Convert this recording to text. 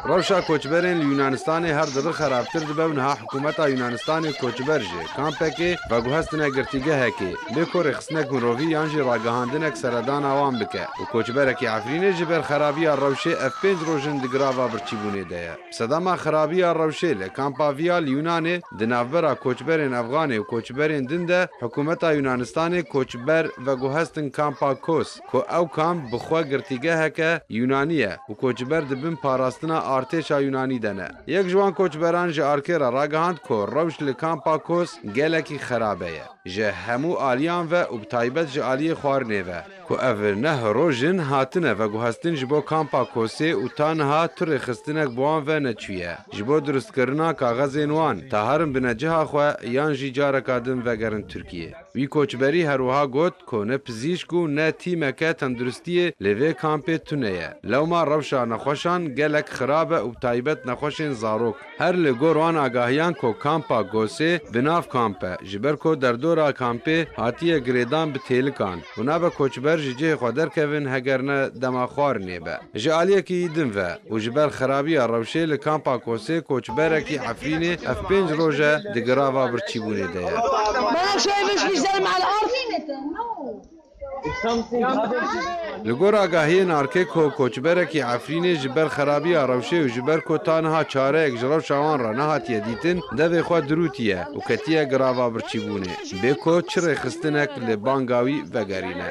Rewşa koçberên li Yûnanistanê her dibe xerabtir dibe û niha hikûmeta Yûnanistanê koçber ji kampekê veguhestine girtîgehekê lê ku rêxistinek mirovî yan jî ragihandinek seredana wan bike û koçberekî Efrînê ji ber xerabiya rewşê ev pênc roj in di grava birçîbûnê de ye. Bi sedema xerabiya rewşê li kampa Vîa li Yûnanê di navbera koçberên Efganê û koçberên din de hikûmeta Yûnanistanê koçber veguhestin kampa Kos. Ku ew kamp bi xwe girtîgeheke Yûnanî ye û koçber di bin parastina artêşa Yûnanî de ne. Yek ji wan koçberan ji ARK re ragihand ku rewş li kampa Kos gelekî xerabe ye ji hemû aliyan ve û bi taybet ji aliyê xwarinê ve. Ku ev ne hiroj in hatine veguhestin ji bo kampa Kosê û ta niha tu rêxistinek bi wan ve neçûye ji bo dirustkirina kaxezên wan, ta herin bine ciha xwe yan jî careka din vegerin Tirkiyê. Wî koçberî herwiha got ku ne pizîşk û ne tîmeke tenduristiyê li vê kampê tune ye. Lewma rewşa nexweşan gelek xirab e û bi taybet nexweşên zarok. Her li gor wan agahiyan ku kampa Gosê bi nav kamp e ji ber ku derdora kampê hatiye girêdan bi têlikan û nabe koçber ji cihê xwe derkevin heger ne dema xwarinê be. Ji aliyekî din ve û ji ber xerabiya rewşê li Kampa Kosê koçberekî Efrînê ev pênc roj e di grava birçîbûnê de ye. Li gor agahiyên ARKEKO, koçberekî Efrînê ji ber xerabiya rewşê û ji ber ku ta niha çareyek ji rewşa wan re nehatiye dîtin, devê xwe dirûtiye û ketiye grava birçîbûnê bê ku çi rêxistinek li banga wî vegerîne.